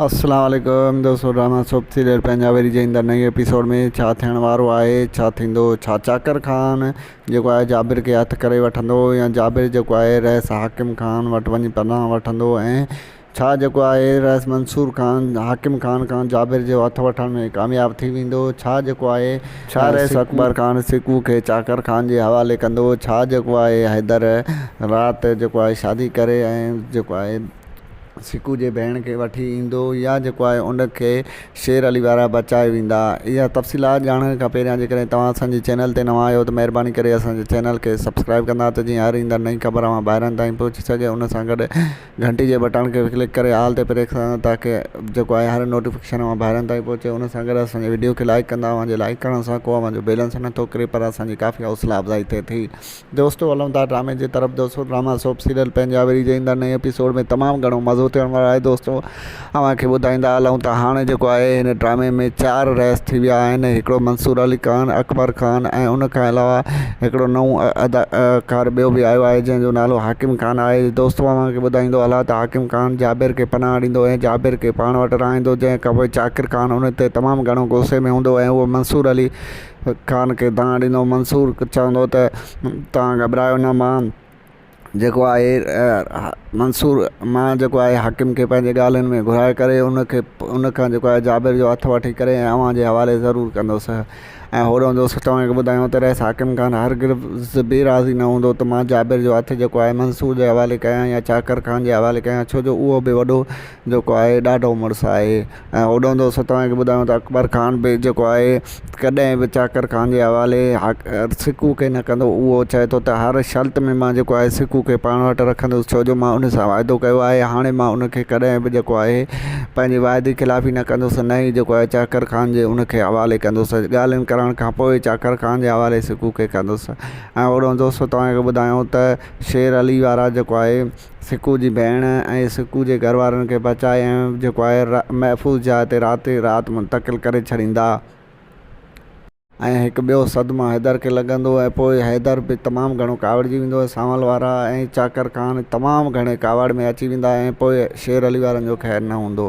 السلام عليڪم دوستو ڊرامه سوپ سيريل پنجابري جي ايندڙ نئين ايپيسوڊ ۾ ڇا ٿيڻ وارو آهي ڇا ٿيندو ڇا چاڪر خان جيڪو آهي جابر کي هٿ ڪري وٺندو يا جابر جيڪو آهي رئيس حاڪم خان وٽ وڃي پناهه وٺندو ۽ ڇا جيڪو آهي رئيس منصور خان حاڪم خان کان جابر جو هٿ وٺڻ ۾ ڪامياب ٿي ويندو ڇا جيڪو آهي ڇا رئيس اڪبر خان سڪو کي چاڪر خان جي حوالي ڪندو ڇا جيڪو آهي حيدر رات جيڪو آهي شادي ڪري ۽ جيڪو آهي سڪو جي ڀيڻ کي وٺي ايندو يا جيڪو آهي ان کي شير علي وارا بچائي ويندا اها تفصيلات ڄاڻڻ کان پهريان جي ڪڏهن توهان اسانجي چينل تي نوان آهيو ته مهرباني ڪري اسانجي چينل کي سبسڪرائب ڪندا ته جيئن هر ايندڙ نئين خبر اوهان ڀائرن تائين پهچي سگهي ان سان گڏ گهنٽي جي بٽڻ کي به ڪلڪ ڪري آل تي پريس ڪندا تاڪه جيڪو آهي هر نوٽيفڪيشن اوهان ڀائرن تائين پهچي ان سان گڏ اسانجي وڊيو کي لائڪ ڪندا اوهانجي لائڪ ڪرڻ سان ڪو اوهانجو بيلنس نه ٿو ڪري پر اسانجي ڪافي حوصلا افزائي ٿئي ٿي دوستو هلون ٿا ڊرامي جي طرف دوستو ڊراما سوپ سيريل پينجاوري جي ايندڙ نئين ايپيسوڊ ۾ تمام گهڻو مزو ٿيڻ وارو آهي دوستو اوهان کي ٻڌائيندا هلون ته هاڻي جيڪو آهي هن ڊرامي ۾ چار رئيس ٿي ويا آهن هڪڙو منصور علي خان اڪبر خان ۽ ان کان علاوه هڪڙو نئون اداڪار ٻيو به آيو آهي جنهن جو نالو حاڪم خان آهي دوستو اوهان کي ٻڌائيندو هلان ته حاڪم خان جابر کي پناهه ڏيندو ۽ جابر کي پاڻ وٽ رهائيندو جنهن کانپوء چاڪر خان ان تي تمام گهڻو غصي ۾ هوندو ۽ اهو منصور علي خان کي دانهن ڏنو. منصور چوندو ته، توهان گهٻرايو نه مان جيڪو آهي منصور مان جيڪو آهي حاڪم کي پنهنجي ڳالهين ۾ گهرائي ڪري ان کي ان کان جيڪو آهي جابر جو هٿ وٺي ڪري ۽ اوهان جي حوالي ضرور ڪندس ۽ هوڏانهن دوست چوهان کي ٻڌايو ته رئيس حاڪم خان هرگز به راضي نه هوندو ته مان جابر جو هٿ جيڪو آهي منصور جي حوالي ڪيان يا چاڪر خان جي حوالي ڪيان ڇو جو اهو به وڏو جيڪو آهي ڏاڍو مڙس آهي ۽ هوڏانهن جو اسان توهان کي ٻڌايون ته اڪبر خان به جيڪو آهي ڪڏهن به چاڪر خان جي حوالي سڪون کي نه ڪندو اهو چئي ٿو ته هر شرط ۾ مان جيڪو آهي سڪون کي پاڻ وٽ رکندس ڇو جو مان ان سان واعدو ڪيو آهي هاڻي مان ان کي ڪڏهن به جيڪو آهي پنهنجي واعدي خلافي نه ڪندس نه ئي جيڪو آهي چاڪر خان جي ان کي حوالي ڪندس ڳالهين ڪرڻ کان پوء چاڪر خان جي حوالي سڪون کي ڪندس ۽ هوڏانهن دوستو توهان کي ٻڌايون ته شير علي وارا جيڪو آهي سڪو جي ڀيڻ ۽ سڪو جي گهر وارن کي بچائي ۽ جيڪو آهي محفوظ جاء تي رات ئي رات منتقل ڪري ڇڏيندا ۽ هڪ ٻيو صدمو حيدر کي لڳندو ۽ پوء حيدر به تمام گهڻو ڪاوڙجي ويندو ۽ سانول وارا ۽ چاڪر خان تمام گهڻي ڪاوڙ ۾ اچي ويندا ۽ پوء شير علي وارن جو خير نه هوندو.